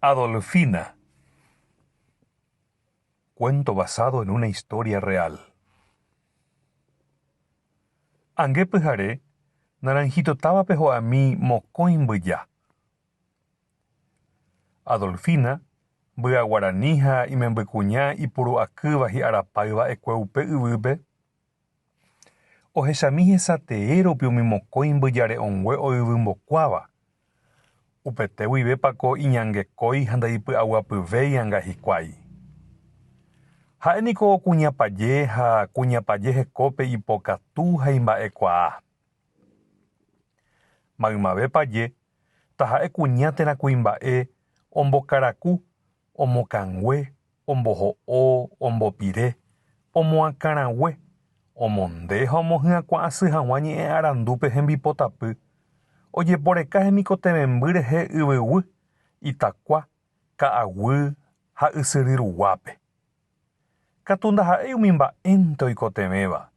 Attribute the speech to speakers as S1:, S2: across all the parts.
S1: Adolfina, Cuento basado en una historia real. Ange pyhare, Naranjito távape ho'ami mokõi mbyja. Adolfina, mbyaguarani ha imembykuña ipuru'akýva hi'arapáyva ekue upe yvýpe, Ohechami hesa tee rupi umi mokõi mbyjare'õngue oyvymbokuáva. Upete guivépa ko iñangekói ha ndaipy'aguapyvéi anga hikuái. Ha'e niko kuñapaje ha kuñapaje hekópe ipokatu ha imba'ekuaa. Maymavépaje, taha'e kuña térã kuimba'e ombokaraku, omokãngue omboho'o, ombopire, omoakãrague, omonde ha omohyakuã asy hag̃ua ñe'ẽ arandúpe hembipotapy, ojeporeka hemikotevẽmby rehe yvyguy, itakua, ka'aguy ha ysyry ruguápe. Katu ndaha'éi umi mba'énte oikotevẽva,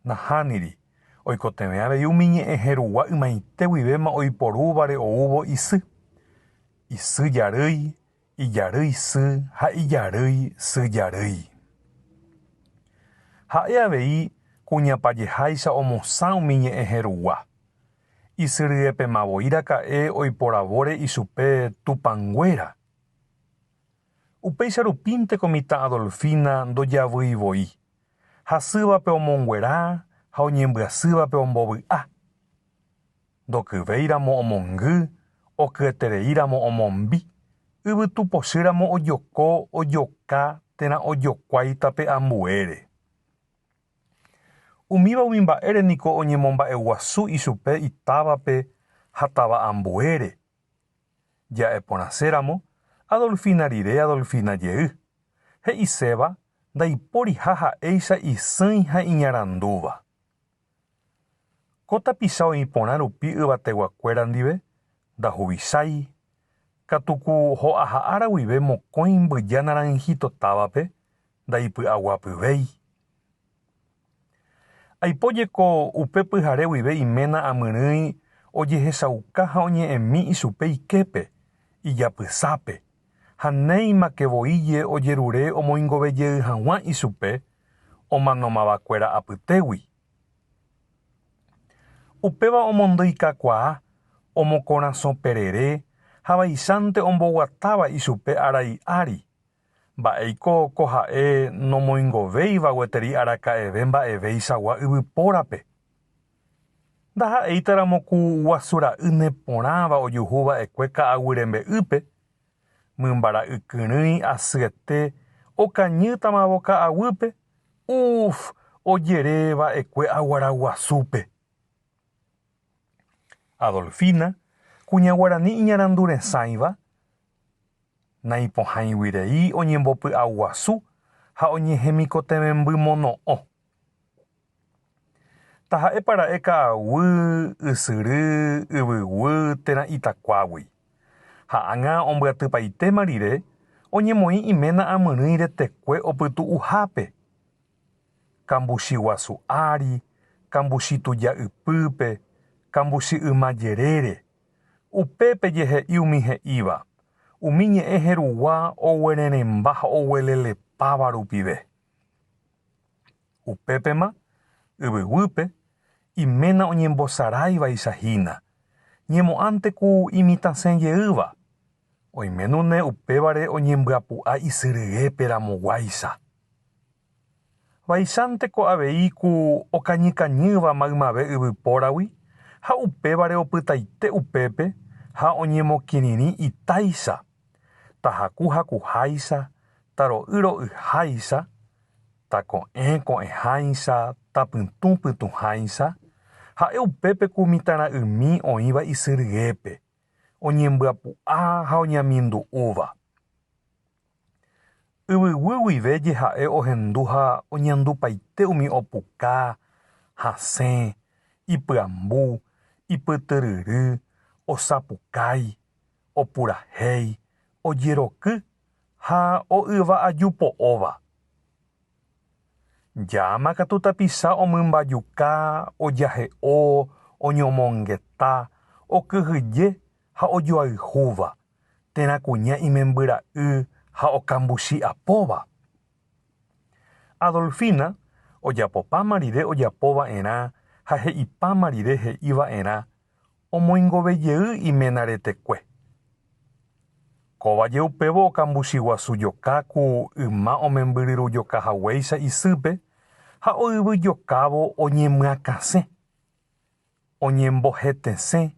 S1: nahániri, oikotevẽ avei umi ñe'ẽhe rugua ymaite guivéma oiporúvare oúvo isy, isy jarýi, ijarýi sy ha ijarýi sy jarýi. Ha'e avei kuñapajeháicha omosã umi ñe'ẽ herugua. Isyryepema voi raka'e oiporavóre ichupe Tupãnguéra. Upéicha rupínteko mitã Adolfina ndojavýi voi, hasývape omonguera ha oñembyasývape ombovy'a. ndokyvéiramo omongy, okyetereíramo omombi, yvytu pochýramo ojoko, ojoka térã ojokuái tape ambuére. Umíva umi mba'ére niko oñemomba'eguasu ichupe itávape ha táva ambuére. Ja'e porãséramo, Adolfina rire Adolfina jey, he'iséva ndaipóriha ha'éicha isỹi ha iñarandúva. Ko tapicha oĩ porã rupi yvateguakuéra ndive, ndahuvichái. Katuku ho'aha ára guive mokõi mbyja naranjito távape, ndaipy'aguapyvéi. Aipo jeko upe pyhare guive iména amyrỹi ojehechauka ha oñe'ẽmi ichupe iképe, ijapysápe, ha néimake voije ojerure omoingovejey haguã ichupe, omanomavakuéra apytégui. Upéva omondyikakuaa omokorasõ perere ha vaicháinte omboguatáva ichupe arai ári, mba'éiko ko ha'e nomoingovéiva gueteri araka'eve mba'evéichagua yvypórape. Ndaha'éitaramo ku guasu ra'y neporãva ojuhu va'ekue ka'aguy rembe'ýpe Mymbara'y kyrỹi asyete okañýtamavo ka'aguýpe, uf, ojere va'ekue aguaraguasúpe. Adolfina, kuña guarani iñaranduresãiva, naipohãiguirei oñembopy'aguasu ha oñehemikotevẽmbymono'õ. Taha'épa ra'e ka'aguy, ysyry, yvyguy térã itakuágui. Ha ág̃a ombyatypaitéma rire, oñemoĩ iména amyrỹi retekue opytu'uhápe, kambuchi guasu ári, kambuchi tuja ypýpe, kambuchi yma jerére. Upépe jehe'i umi he'íva, umi ñe'ẽ herugua oguererẽmba ha oguelelepáva rupive. Upépema, yvyguýpe, iména oñembosaráivaicha hína, ñemo'ãnte ku imitãse jeýva, oiménune upévare oñembyapu'a isy ryépe ramoguáicha. Vaichánte ko avei ku okañykañýva maymave yvypóragui ha upévare opytaite upépe ha oñemokirirĩ itáicha. tahaku hakuháicha, taro'y ro'yháicha, tako'ẽ ko'ẽháicha, tapytũ pytũháicha, ha'e upépe ku mitãra'ymi oĩva isy ryépe, oñembyapu'a ha oñamindu'úva. Yvyguy guive jeha'e ohendu ha oñandupaite umi opuka, hasẽ, ipyambu, ipytyryry, osapukái, opurahéi, ojeroky ha o'yva aju po'óva. Jaama katu tapicha omymbajuka, ojahe'o, oñomongeta, okyhyje ha ojoayhúva, térã kuña imembyra'y ha okambuchi apóva. Adolfina ojapopáma rire ojapova'erã ha he'ipáma rire he'iva'erã omoingove jey iména retekue. Kóva jeupévo okambuchi guasu joka ku yma omembyryru joka haguéicha isýpe ha oyvy jokávo oñemyakãsẽ, oñembohetesẽ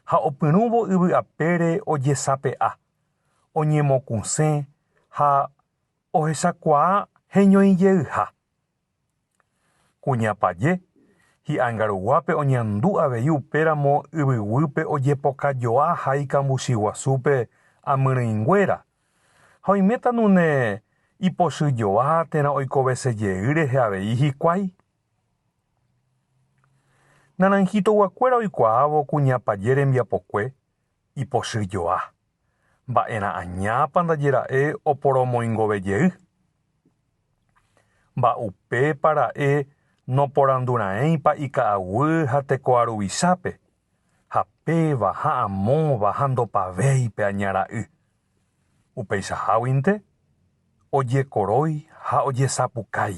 S1: ha opyrũvo yvy apére ojesape'a, oñemokũsẽ ha ohechakuaa heñoijeyha. Kuñapaje, hi'angaruguápe oñandu avei upéramo yvyguýpe ojepokajoa ha ikambuchi guasúpe amyrỹinguéra, ha oiméta nune ipochyjoa térã oikovese jey rehe avei hikuái. Naranjito-guakuéra oikuaávo kuñapaje rembiapokue ipochy joa. Mba'erã añápa ndajera'e oporomoingove jey? Mba'upépa ra'e noporanduraẽipa ika'aguy ha tekoha ruvichápe, ha péva ha amóva ha ndopavéi pe aña ra'y? Upeichaháguinte, ojekorói ha ojesapukái.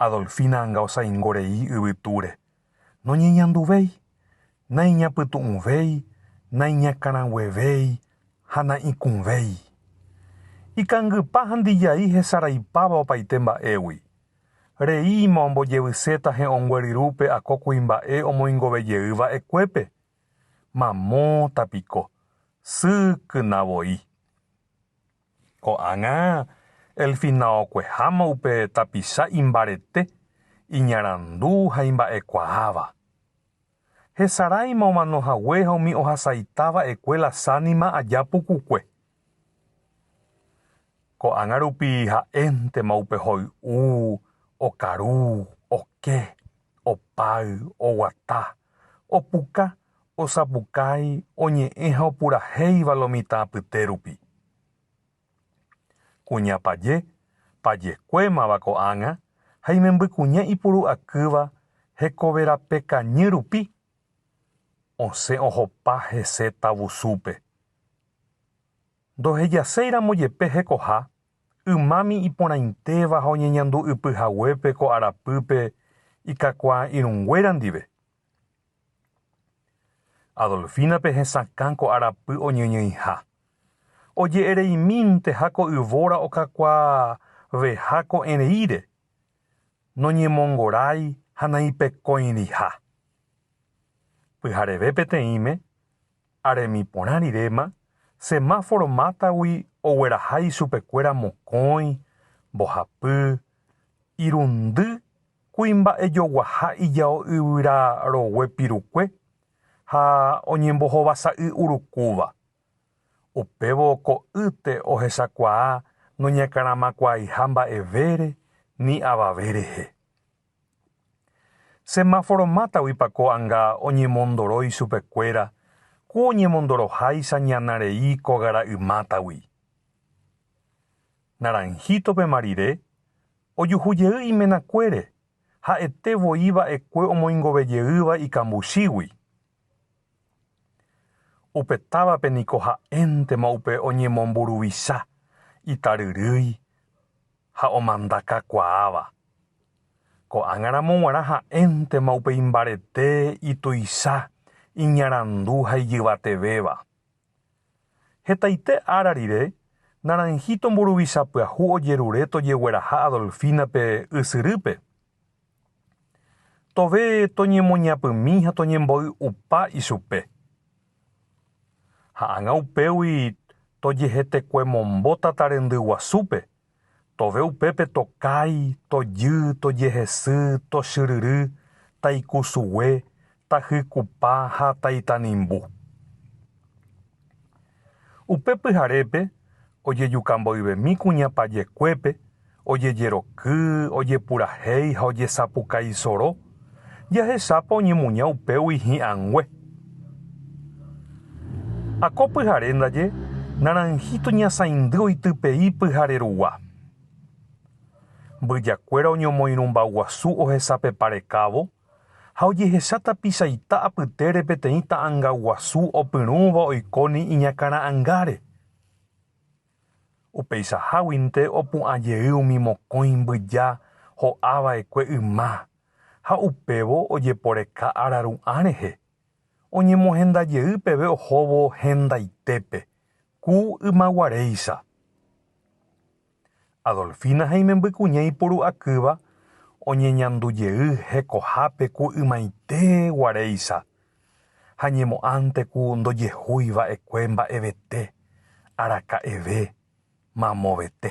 S1: Adolfina anga osaingo rei yvytúre, noñeñanduvéi, naiñapytu'ũvéi, naiñakãraguevéi ha na'ikũvéi. Ikangypa handijai hesaraipáva opaite mba'égui. Reíma ombojevyséta he'õngueryrúpe akó kuimba'e omoingovejey va'ekuépe. Mamóta piko, sy kyna voi. Ko'ág̃a Elfina okueháma upe tapicha imbarete, iñarandu ha imba'ekuaáva. Hesaráima omano hague ha umi ohasaita va'ekue la sánima aja pukukue. Ko'ág̃a rupi ha'éntema upe hoy'u, okaru, oke. Opáy, oguata, opuka, osapukái, oñe'ẽ ha opurahéiva lo mitã apyte rupi. Kuña paje, pajekuémava ko'ág̃a ha imembykuña ipuru'akýva hekoverapekañy rupi, osẽ ohopa hese tavusúpe. Ndohejaséiramo jepe hekoha Ymami iporãitéva ha oñeñandu'ypy haguépe ko arapýpe ikakuaa irũnguéra ndive. Adolfínape hesakã ko arapy oñeñoĩha. Oje'ereimínteha ko yvóra okakuaaveha ko'ẽreíre, noñemongorái ha naipekõiriha. Pyhareve peteĩme, ha remiporã riréma, semáforo mátagui ogueraha ichupekuéra mokõi, mbohapy, irundy, kuimba'ejoguaha ijao yvyra rogue pirukue ha oñembohovasa'y urukúva. Upévo ko'ýte ohechakuaa noñakãramakuaaiha mba'evére ni avave rehe. Semáforo mátagui pa ko'anga oñemondoro ichupekuéra ku oñemondoroháicha ñana rei ko gara'y mátagui. Naranjito pema rire, ojuhu jey imenakuére, ha'ete voi va'ekue omoingove jeýva ikambuchígui. Upe távape niko ha'éntema upe oñemomburuvicha, itaryrýi. ha omanda kakuaáva. Ko'ág̃aramo g̃uarã ha'éntema upéi mbarete ituicha, iñarandu ha ijyvatevéva. Hetaite ára rire, Naranjito mburuvicha pyahu ojerure tojegueraha Adolfina-pe ysyrýpe. Tove toñemoñapymi ha toñemboy'upa ichupe. Ha ág̃a upégui tojehetekuemombo tata rendy guasúpe, tove upépe tokái, tojy, tojehesy, tochyryry, taikusugue, tajykupa ha taitanimbu. Upe pyharépe ojejuka mboyvemi kuñapajekuépe, ojejeroky, ojepurahéi ha ojesapuka isoro, jahechápa oñemuña upégui hi'angue. Ha ko pyhare ndaje naranjito ñasãindy oitypei pyhare rugua. Mbyjakuéra oñomoirũmbaguasu ohesapeparekávo ha ojehecha tapicha ita apytére peteĩ ta'anga guasu opyrũva oikóni iñakãra'angáre. Upeichaháguinte opu'ã jey umi mokõi mbyja ho'a vaekue yma ha upévo ojeporeka araru'ã rehe, oñemohenda jey peve ohóvo hendaitépe, ku ymaguaréicha. Adolfina ha imembykuña iporu'akýva oñeñandujey hekohápe ku ymaite guaréicha ha ñemo'ãnte ku ndojehúi va'ekue mba'evete, araka'eve, mamovete.